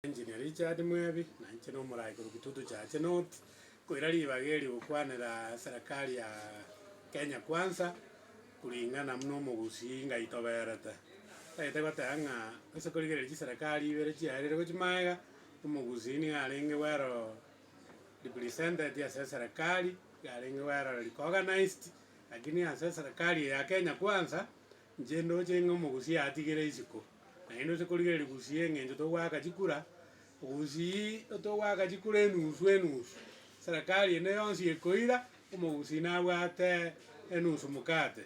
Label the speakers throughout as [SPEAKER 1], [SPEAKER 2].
[SPEAKER 1] Engineer Richard Mwebi, nainche nomorai korwa Kitutu Church North, nkoira ribaga eri gokwanera serikali ya Kenya Kwanza kuringana buna omogusii ngaitoberete. Ntagete goteba ng'a ase korigereria chiserikali ibere chiaereirwe chimaega, omogusii nigo arenge well represented ase eserikali, nigo arenge well recognized, lakini ase eserikali eye ya Kenya Kwanza, Inche ndoche ng'a omogusia atigere isiko, naende ose korigereria gusia eng'encho togoaka chikura, ogusie togoaka chikura enusu enusu, serikari ende yonsi ekoira, omogusi nabwate enusu mkate.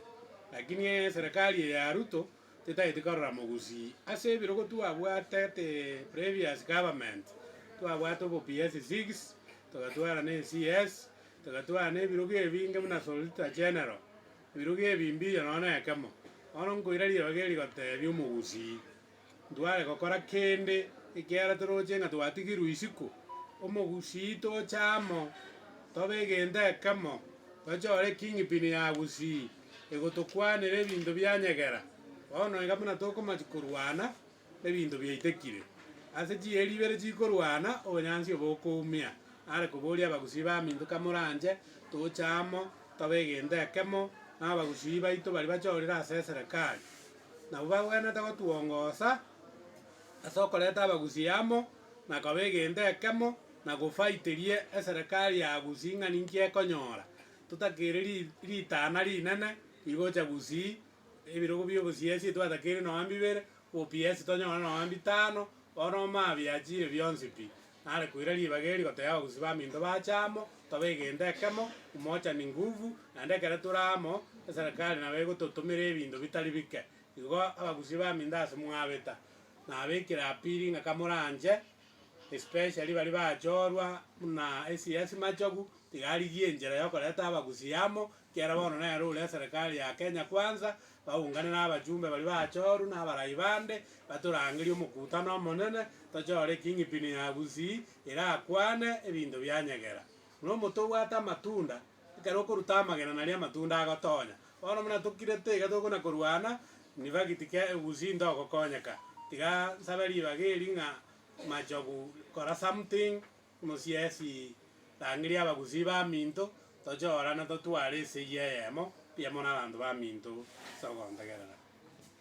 [SPEAKER 1] Lakini eserikari eye ya Ruto tetaeti korora mogusi, ase ebirogo twabwate the previous government, twabwate obo PS six, togatwara ne CS, togatwara nebirogo ebinge buna Solicitor General. Oiruge ebimbirio nonya nekemo. Bono nkoira rirogi eri goteebia omogusii, Ntware gokora kende, ekiagera toroche ng'a twatigirwe isiko. Omogusii toche amo, tobe egento ekemo, tochore kingpin ya gusii, egotokwanera ebinto bianyegera. Bono iga buna tokomachia korwana, Ebinto biaitekire. Ase chieri ibere chikorwana, obonyansi obo okoumia. Are koboria abagusii baminto, Kamoranche toche amo tobe egento ekemo nabagusii baito baria bachorire ase eserekari? Nabo bagwenerete gotwongosa ase okoreta abagusii amo na koba egento ekemo na gofaiteria eserekari ya gusii ng'a ninki ekonyora. Totakeire ritana rinene rigocha gusii Ebirogo bi'obosiasi etwatakeire nonya mbibere, OPS tonyore nonya mbitano, bono omaa biachiire bionsi pi. Nare koira ribaga eri gotebia abagusii baminto baache amo, tobe egento ekemo, umoja ni nguvu, naende ekero tore amo, eserekari nabo egototomera ebinto bitari bike. Igo abagusii baminto ase mwabeta, nabekire apiri ng'a kamoranche, especially baria bachorwa buna esiasi machogu, tiga arigie enchera yokoreta abagusii amo, Kera bono nere ore eserekari ya Kenya Kwanza baungane nabachumbe baria bachoru na abarai bande batorangerie omokutano omonene tochore Kingpin ya Gusii erakwane ebinto bia nyegera. Buna omote obwate amatunda, ekero okoruta amagena nario amatunda agotonya. Bono buna tokirete iga tokona korwana nifagiti ke Gusii ntogokonyeka. Tiga nsabe ribaga eri ng'a machogu kora something Mosiesi, Rangeria abagusii baminto, toche orana totware esegi eyemo, riamo nabanto baminto, ase ogontegerera.